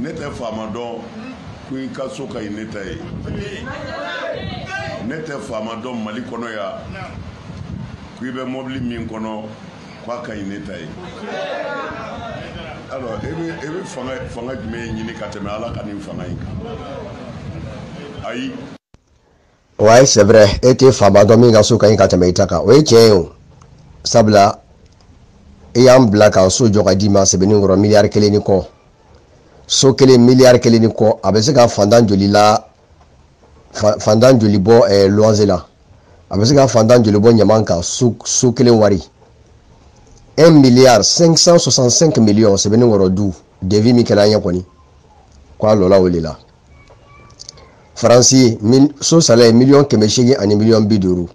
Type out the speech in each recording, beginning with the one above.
ne tɛ faama dɔn ko i ka so ka ɲi ne ta ye ne tɛ faama dɔn mali kɔnɔ yan ko i bɛ mɔbili min kɔnɔ ko a ka ɲi ne ta ye alors e bɛ e bɛ fanga fanga jumɛn ɲini ka tɛmɛ ala ka nin fanga in kan ayi ouais c'est vrai e tɛ faama dɔn min ka so ka ɲi ka tɛmɛ i ta kan o ye tiɲɛ ye o sabula i y'an bila k'an so jɔ ka d'i ma sebeninkɔrɔ miliyari kelen ni kɔ so kelen miliyari kelen ni kɔ a bɛ se ka fantan joli la fantan joli bɔ ɛɛ luwanze la a bɛ se ka fantan joli bɔ ɲaman kan so so kelen wari un milliard cinq cent soixante cinq millions sebeninkɔrɔ du devis min kɛra an ye kɔni ko a lɔla o de la faransi so sala ye miliyɔn kɛmɛ seegin ani miliyɔn bi duuru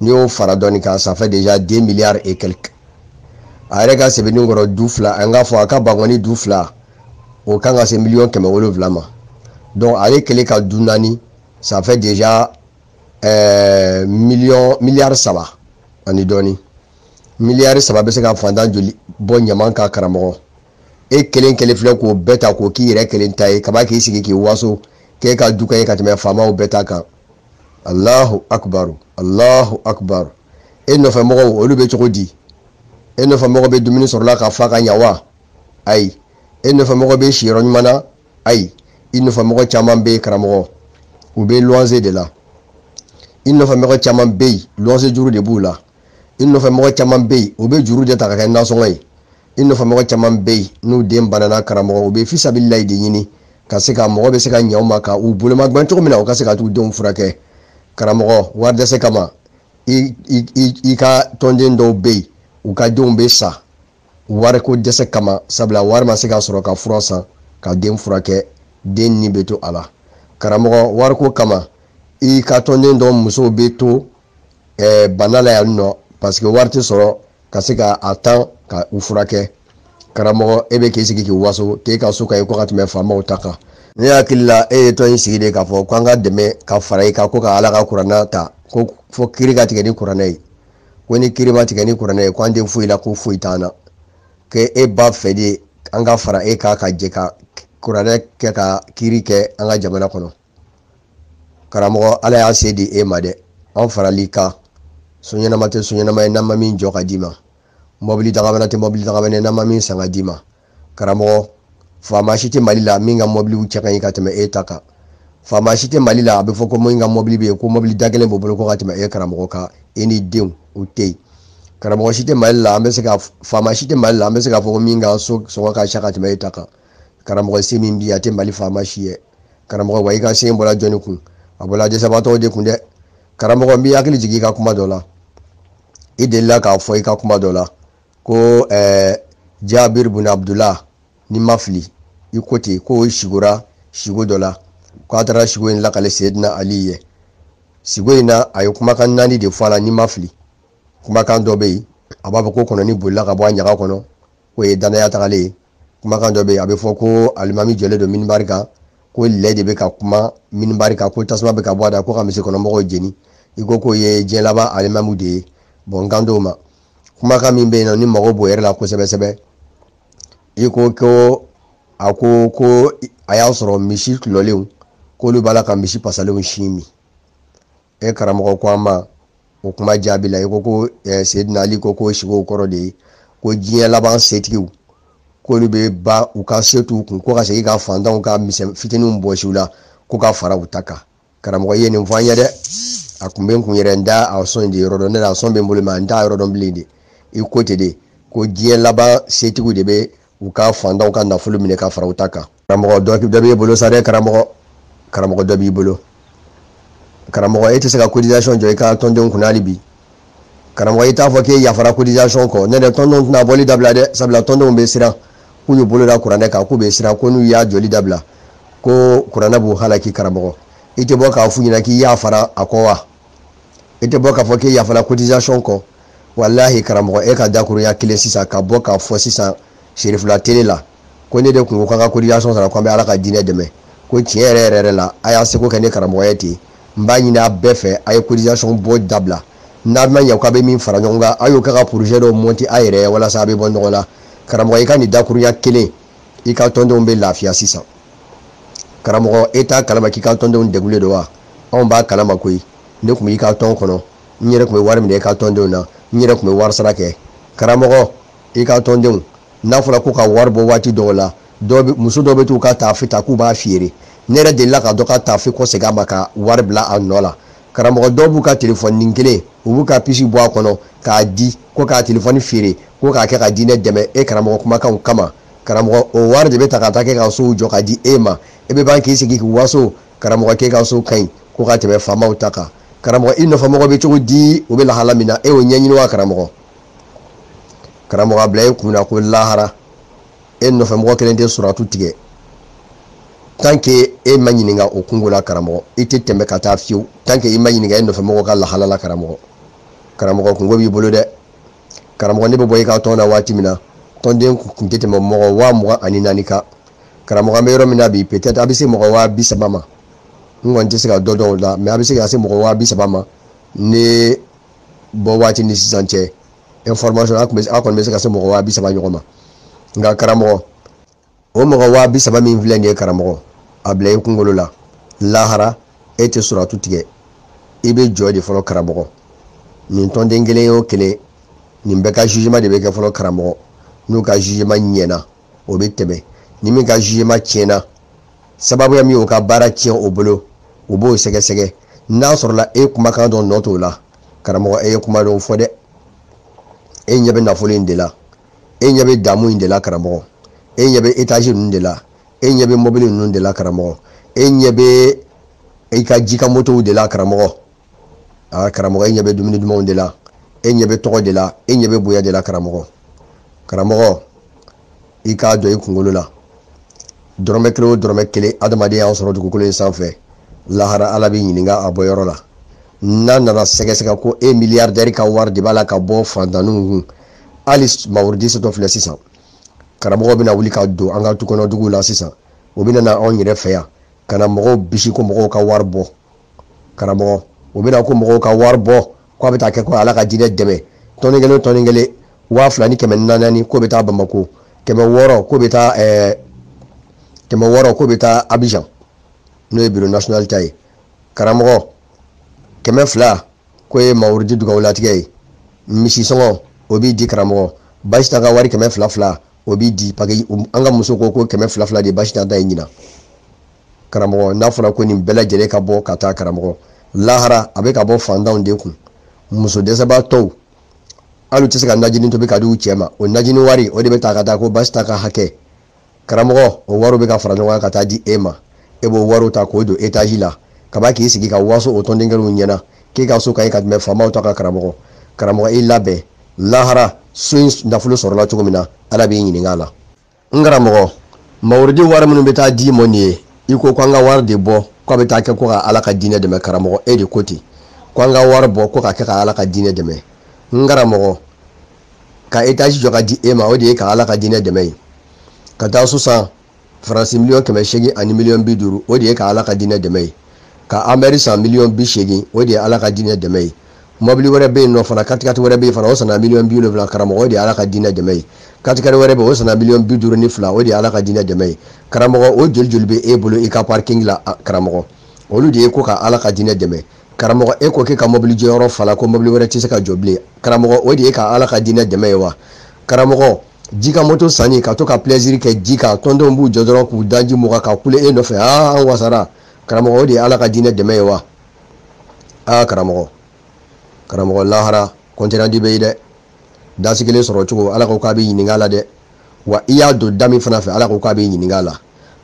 n'i y'o fara dɔɔni kan ça fait déjà deux milliards et quelques a yɛrɛ ka sebeninkɔrɔ du fila an k'a fɔ a ka bankoni du fila o kan ka se miliyɔn kɛmɛ wolonwula ma donc ale kelen ka du naani ça fait déjà euh, miliyɔn miliyari saba ani dɔɔni miliyari saba bɛ se ka fantan joli bɔ ɲaman ka karamɔgɔ e kelen kelen filɛ k'o bɛɛ ta k'o k'i yɛrɛ kelen ta ye ka ban k'i sigi k'i waso k'e ka du ka ɲi ka tɛmɛ faamaw bɛɛ ta kan alahu akubaru alahu akubaru e nɔfɛ mɔgɔw olu bɛ cogo di e nɔfɛ mɔgɔ bɛ dumuni sɔrɔ la ka fa ka ɲa wa ayi e nɔfɛ mɔgɔ bɛ siyɔrɔ ɲuman na ayi i nɔfɛ mɔgɔ caman bɛ yen karamɔgɔ u bɛ luwanze de la i nɔfɛ mɔgɔ caman bɛ yen luwanze juru de b'u la i nɔfɛ mɔgɔ caman bɛ yen u bɛ juru de ta ka kɛ nasɔngɔ ye i nɔfɛ mɔgɔ caman bɛ yen n'u den banana karamɔgɔ u bɛ fisabililayi de ɲini ka se ka mɔgɔ bɛ se ka ɲɛ u ma ka u bolomagɛn cogo min na u ka se ka t'u denw furakɛ karamɔgɔ wari dɛsɛ kama i i i i ka tɔnden dɔw bɛ yen u ka denw bɛ sa wariko dɛsɛ kama sabula wari ma se ka sɔrɔ ka fura san ka den furakɛ den ni bɛ to a la karamɔgɔ wariko kama i ka tɔnden dɔw musow bɛ to ɛɛ bana la yan nɔ parce que wari tɛ sɔrɔ ka se ka a ta ka u furakɛ karamɔgɔ e bɛ k'i sigi k'i waso k'e ka so ka ɲi ko ka tɛmɛ faamaw ta kan ne hakili la e ye tɔn in sigi de k'a fɔ k'an ka dɛmɛ ka fara i kan ko ka ala ka kuranɛ ta ko fo kiri ka tigɛ ni kuranɛ ye ko ni kiri ma tigɛ ni kuranɛ ye ko an tɛ foyi la ko foyi t'an na que e b'a fɛ de an ka fara e kan ka jɛ ka kuranɛ kɛ ka kiri kɛ an ka jamana kɔnɔ karamɔgɔ ala y'a se di e ma dɛ an farali kan so ɲɛnama tɛ so ɲɛnama ye n'an ma min jɔ ka d'i ma mɔbili dagabana tɛ mɔbili dagabana ye n'an ma min san ka d'i ma karamɔgɔ faama si tɛ mali la min ka mɔbiliw cɛ ka ɲi ka tɛmɛ e ta kan faama si tɛ mali la a bɛ fɔ ko min ka mɔbili bɛ yen ko mɔbili da kelen b'o bolo ko ka tɛmɛ e karamɔgɔ kan e ni denw o tɛ yen karamɔgɔ si tɛ mali la an bɛ se ka faama si tɛ mali la an bɛ se k'a fɔ ko min ka so sɔngɔ ka ca ka tɛmɛ e ta kan karamɔgɔ se min b'i ye a tɛ mali faama si ye karamɔgɔ wa i ka se bɔra jɔnni kun a bɔra dɛsɛbaatɔw de kun dɛ karamɔgɔ n b'i hakili jigin i ka kuma dɔ la i delila k'a fɔ i ka kuma dɔ la ko ɛɛ jabir bun abdullah ni n ma fili i ko ten ko sigora sigo dɔ la ko a taara sigo in lakale seyidina ali ye sigo in na a ye kumakan naani de fɔ a la ni n ma fili kumakan dɔ bɛ yen a b'a fɔ ko kɔnɔni bolila ka bɔ a ɲaga kɔnɔ k'o ye danaya tagalen ye kumakan dɔ bɛ yen a bɛ fɔ ko alimami jɔlen don minibari kan ko lɛ de bɛ ka kuma minibari kan ko tasuma bɛ ka bɔ a da ko ka misirikɔnɔmɔgɔw jeni i ko k'o ye diɲɛ laban alimamu de ye bon n kan t'o ma kumakan min bɛ yen ni ne mago b'o yɛrɛ la kosɛbɛ sɛbɛ i ko ko a ko ko a y'a sɔrɔ misi tulɔlenw k'olu b'a la ka misi pasalenw sin min e karamɔgɔ ko an ma o kuma jaabi la i ko ko eh, seyidina ali ko k'o sigow kɔrɔ de ye ko diɲɛ laban setigiw k'olu bɛ ba u ka se t'u kun ko ka segin ka fantanw ka misɛn fitininw bɔsi u la ko ka fara u ta kan karamɔgɔ i ye nin fɔ an ye dɛ a kun bɛ n kun yɛrɛ n t'a a son de yɔrɔ dɔn ne la a son bɛ n bolo mais n t'a yɔrɔ dɔn bilen de i ko ten de ko diɲɛ laban setigiw de bɛ u ka fantanw ka nafolo minɛ ka fara u ta kan karamɔgɔ dɔ dɔ b'i bolo sa dɛ karamɔgɔ karamɔgɔ dɔ b'i bolo karamɔgɔ e tɛ se ka cotisation jɔ i ka tɔndenw kunna hali bi karamɔgɔ i t'a fɔ k'e yafara cotisation kɔ n'o tɛ tɔndenw tɛna bɔli dabila dɛ sabula tɔndenw bɛ siran k'u y'u bolo da kuranɛ kan k'u bɛ siran ko n'u y'a jɔli dabila ko kuranɛ b'u halaki karamɔgɔ i tɛ bɔ k'a f'u ɲɛna k'i yafara a kɔ wa i tɛ bɔ k'a fɔ k'i yafala cotisation kɔ walahi karamɔgɔ e ka dakurunya kelen sisan ka bɔ k'a fɔ sisan serifula tele la ko ne de kun ko k'an ka cotisation sara ko an bɛ ala ka diinɛ dɛmɛ ko tiɲɛ yɛrɛ yɛrɛ yɛrɛ la a y'a seko kɛ ne karamɔgɔ ye ten n b'a ɲini a bɛɛ fɛ a ye cotisation bɔ dabila n'a ma ɲɛ k'a bɛ min fara ɲɔgɔn kan a y'o kɛ ka projet dɔ monter a yɛrɛ ye walasa a bɛ bɔ nɔgɔ la karamɔgɔ i ka nin dakurunya kelen i ka tɔndenw bɛ lafiya sisan karamɔgɔ e t'a kalama k'i ka tɔndenw degulen don wa anw b'a kalama koyi ne tun b'i ka tɔn kɔnɔ n yɛrɛ tun bɛ wari minɛ i ka tɔndenw na n yɛrɛ tun bɛ wari sara kɛ karamɔgɔ i ka tɔndenw n'a fɔra ko ka wari bɔ waati dɔw la muso dɔw bɛ t'u ka taafe ta k'u b'a feere ne yɛrɛ delila ka dɔ ka taafe kɔsegin a ma ka wari bila a nɔ la karamɔgɔ dɔw b'u ka telefɔni kelen u b'u ka pisi bɔ a kɔnɔ k'a di ko ka telefɔni feere ko k'a kɛ ka diinɛ dɛmɛ e karamɔgɔ kumakanw kama karamɔgɔ o wari de bɛ ta ka taa kɛ ka sow jɔ ka di e ma e bɛ ban k'i sigi k'i waso karamɔgɔ k'e ka so ka ɲi ko ka tɛmɛ faamaw ta kan karamɔgɔ i nɔfɛmɔgɔ bɛ cogo di u bɛ lahala min na e y'o ɲɛɲini wa karamɔgɔ karamɔgɔ a bila e kun na ko lahara e nɔfɛmɔgɔ kelen tɛ suratu tigɛ tant que e ma ɲininka o kunko la karamɔgɔ i tɛ tɛmɛ ka taa fiyewu tant que i ma ɲininka e nɔfɛmɔgɔ ka lahala la karamɔgɔ karamɔgɔ kunko b'i bolo dɛ karamɔgɔ ne bɛ bɔ i ka tɔn na waati min na tɔnden kun tɛ tɛmɛ mɔgɔ waa mugan ani naani kan karamɔgɔ an bɛ yɔrɔ min na bi peut-être a bɛ se mɔgɔ waa bi saba ma n kɔni tɛ se ka dɔ dɔn o la mais a bɛ se ka se mɔgɔ waa bi saba ma ne bɔ waati ni sisan cɛ information a kɔni bɛ se ka se mɔgɔ waa bi saba ɲɔgɔn ma nka karamɔgɔ o mɔgɔ waa bi saba min filɛ nin ye karamɔgɔ a bila i kunkolo la lahara e tɛ suratu tigɛ i bɛ jɔ de fɔlɔ karamɔgɔ nin tɔnden kelen o kelen nin bɛɛ ka jugement de bɛ kɛ fɔlɔ karamɔgɔ n'u ka jugement ɲɛna o bɛ tɛmɛ ni min ka jugement tiɲɛna sababuya min y'o ka baara tiɲɛ o bolo u b'o sɛgɛsɛgɛ n'a sɔrɔla e kumakan dɔ nɔ t'o la karamɔgɔ e ye kuma dɔw fɔ dɛ e ɲɛ bɛ nafolo in de la e ɲɛ bɛ damu in de la karamɔgɔ e ɲɛ bɛ étage ninnu de la e ɲɛ bɛ mɔbili ninnu de la karamɔgɔ e ɲɛ bɛ i ka jikan motow de la karamɔgɔ aa karamɔgɔ e ɲɛ bɛ dumuni dumanw de la e ɲɛ bɛ tɔgɔ de la e ɲɛ bɛ bonya de la karamɔgɔ karamɔgɔ i k'a don i kunkolo la dɔrɔmɛ kelen o dɔrɔmɛ kelen adamaden y'a sɔrɔ dugukolo in sanfɛ lahara ala bɛ ɲininka a bɔyɔrɔ la n'a nana sɛgɛsɛgɛ ko e milliardaire ka wari de b'a la ka bɔ fantanninw kun hali mawurudi setɔ filɛ sisan karamɔgɔ bɛna wuli ka don an ka tukɔnɔduguw la sisan o bɛna na anw yɛrɛ fɛ yan ka na mɔgɔw bisi ko mɔgɔw ka wari bɔ karamɔgɔ o bɛna ko mɔgɔw ka wari bɔ ko a bɛ taa kɛ ko ala ka diinɛ dɛmɛ tɔni kelen tɔni kelen waa fila ni kɛmɛ naani k'o bɛ taa bamako kɛmɛ wɔɔrɔ k'o bɛ taa ɛɛ kɛmɛ wɔɔrɔ k'o bɛ taa abijan n'o ye bureau national ta ye karamɔgɔ kɛmɛ fila k'o ye mawurudi dugawulatigɛ ye misi sɔngɔ o bɛ di karamɔgɔ basita ka wari kɛmɛ fila fila o bɛ di parce que an ka muso ko ko kɛmɛ fila fila de basita ta ye ɲinan karamɔgɔ n'a fɔra ko nin bɛɛ lajɛlen ka bɔ ka taa karamɔgɔ lahara a bɛ ka bɔ fantanw de kun muso dɛsɛbaatɔw hali u tɛ se ka najini tobi ka di u cɛ ma o najini wari o de bɛ ta ka taa ko basita ka hakɛ karamɔgɔ o wariw bɛ ka fara ɲɔgɔn kan ka taa di e ma e b'o wariw ta k'o don étage la ka ban k'i sigi ka waso o tɔnden kelenw ɲɛ na k'e ka so ka ɲi ka tɛmɛ faamaw ta kan karamɔgɔ karamɔgɔ i labɛn lahara so in nafolo sɔrɔla cogo min na ala b'i ɲininka a la n karamɔgɔ mawurudi wari minnu bɛ taa d'i ma nin ye i ko ko an ka wari de bɔ ko a bɛ taa kɛ ko ka ala ka diinɛ dɛmɛ karamɔgɔ e de ko ten ko an ka wari bɔ ko ka kɛ ka ala ka diinɛ dɛmɛ n karamɔgɔ ka etazi jɔ ka di e ma o de ye ka ala ka diinɛ dɛmɛ ye ka taa so san faransi miliyɔn kɛmɛ seegin ani miliyɔn bi duuru o de ye ka ala ka diinɛ dɛmɛ ye ka anbɛri san miliyɔn bi seegin o de ye ala ka diinɛ dɛmɛ ye mɔbili wɛrɛ bɛ yen nɔ fana katikati wɛrɛ bɛ yen fana o sanna miliyɔn bi wolonwula karamɔgɔ o de ye ala ka diinɛ dɛmɛ ye katikati wɛrɛ bɛ yen o sanna miliyɔn bi duuru ni fila o de ye ala ka diinɛ dɛmɛ ye karamɔgɔ o joli joli bɛ e bolo i ka parikingi la karamɔgɔ olu de ye ko ka ala ka diinɛ dɛmɛ karamɔgɔ e ko k'e ka mɔbili jɔyɔrɔ fala ko mɔbili wɛrɛ tɛ se ka jɔ bilen karamɔgɔ o de ye ka ala ka diinɛ dɛmɛ ye wa karamɔgɔ ji kan moto sanni ka to ka pilɛziri kɛ ji kan tɔndenw b'u jɔ dɔrɔn k'u daji mugan ka kule e nɔfɛ aa an wasara karamɔgɔ o de ye ala ka diinɛ dɛmɛ ye wa aa karamɔgɔ karamɔgɔ lahara kɔntirandi bɛ yen dɛ dasi kelen sɔrɔ cogo ala ko k'a bɛ ɲininka la dɛ wa i y'a don da min fana fɛ ala ko k'a bɛ ɲininka la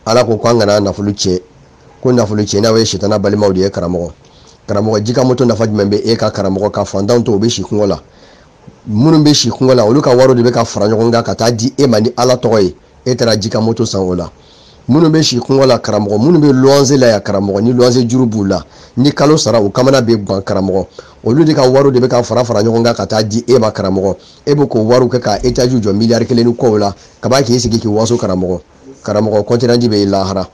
ala ko k'an kana nafolo tiɲɛ ko nafolo tiɲɛnaw ye sitana balimaw de ye karamɔgɔ karamɔgɔ ji kan moto nafa jumɛn bɛ e kan karamɔgɔ ka fantanw to u bɛ si kɔngɔ la minnu bɛ si kɔngɔ la olu ka wariw de bɛ ka fara ɲɔgɔn kan ka taa di e ma ni ala tɔgɔ ye e taara ji kan moto san o la minnu bɛ si kɔngɔ la karamɔgɔ minnu bɛ luwanze la yan karamɔgɔ ni luwanze juru b'u la ni kalo sara u kamana bɛ gan karamɔgɔ olu de ka wariw de bɛ ka fara fara ɲɔgɔn kan ka taa di e ma karamɔgɔ e bɛ k'o wariw kɛ ka etaziw jɔ miliyari kelen ni kɔw la ka ban k'i sigi k'i waso karamɔgɔ karamɔgɔ kɔntirandi bɛ yen lahara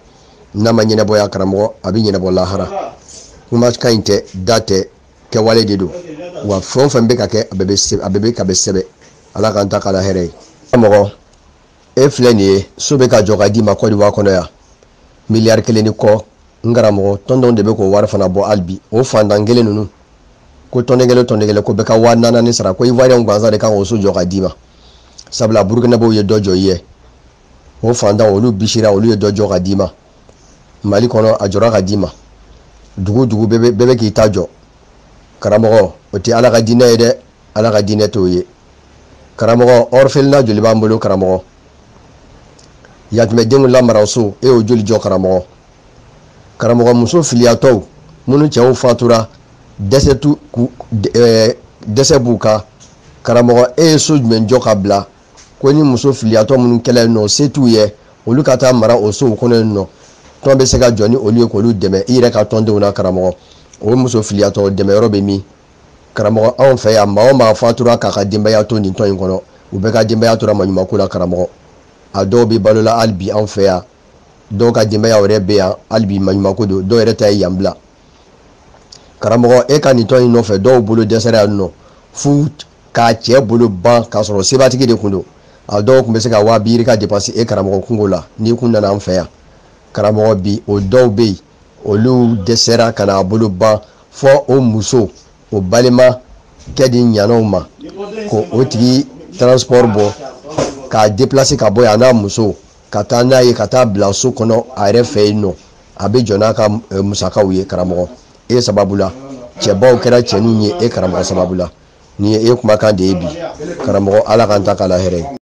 n'a ma ɲɛnabɔ yan karamɔgɔ a bɛ ɲɛnabɔ lahara kuma ka ɲi tɛ da tɛ kɛwale de don wa fɛn o fɛn bɛ ka kɛ a bɛɛ bɛ ka bɛ sɛbɛn ala k'an ta k'a la hɛrɛ ye karamɔgɔ e filɛ nin ye so bɛ ka jɔ ka d'i ma kɔdiwa kɔnɔ yan miliyari kelen ni kɔ n karamɔgɔ tɔnden de bɛ k'o wari fana bɔ hali bi o fantan kelen ninnu ko tɔnden kelen tɔnden kelen ko bɛɛ ka waa naani sara ko ivoiriyɛnw gansan de kan k'o so jɔ ka d'i ma sabula burukinabew ye dɔ jɔ i ye o fantan olu bisira olu ye dɔ jɔ ka d'i ma mali kɔnɔ a jɔra ka d'i ma dugu dugu bɛɛ bɛ k'i ta jɔ karamɔgɔ o tɛ ala ka diinɛ ye dɛ ala ka diinɛ t'o ye karamɔgɔ orphelinat joli b'an bolo karamɔgɔ yatimɛdenw lamara so e y'o joli jɔ karamɔgɔ karamɔgɔ muso filiyatɔw minnu cɛw fatura dɛsɛ tu ku ɛɛ dɛsɛ b'u kan karamɔgɔ e ye so jumɛn jɔ ka bila ko ni muso filiyatɔ minnu kɛlen yen nɔ se t'u ye olu ka taa mara o sow kɔnɔ yen nɔ tɔn bɛ se ka jɔ ni olu ye k'olu dɛmɛ i yɛrɛ ka tɔndenw na karamɔgɔ o muso filiyatɔ dɛmɛyɔrɔ bɛ min karamɔgɔ anw fɛ yan maa o maa fatura k'a ka denbaya to nin tɔn in kɔnɔ u bɛɛ ka denbaya tora maɲumanko la karamɔgɔ a dɔw bɛ balo la hali bi anw fɛ yan dɔw ka denbaya yɛrɛ bɛ yan hali bi maɲumanko don dɔw yɛrɛ ta ye yan bila karamɔgɔ e ka nin tɔn in nɔfɛ dɔw bolo dɛsɛra yan nɔ fo k'a cɛ bolo ban k'a sɔrɔ sebatigi de tun don a dɔw tun bɛ se ka waa biiri ka dépenser e karamɔgɔ kunko la n'i kun nana an fɛ yan karamɔgɔ bi o dɔw bɛ yen olu dɛsɛra ka n'a bolo ban fo o muso o balimakɛ diɲɛn'o ma k'o tigi transport bɔ k'a déplacer ka bɔ yan n'a muso ka taa n'a ye ka taa bila so kɔnɔ a yɛrɛ fɛ yen nɔ a bɛ jɔ n'a ka eh, musakaw ye karamɔgɔ e sababu la cɛbaw kɛra cɛninw ye e karamɔgɔ sababu la nin ye e kumakan de ye bi karamɔgɔ ala k'an ta k'a la hɛrɛ ye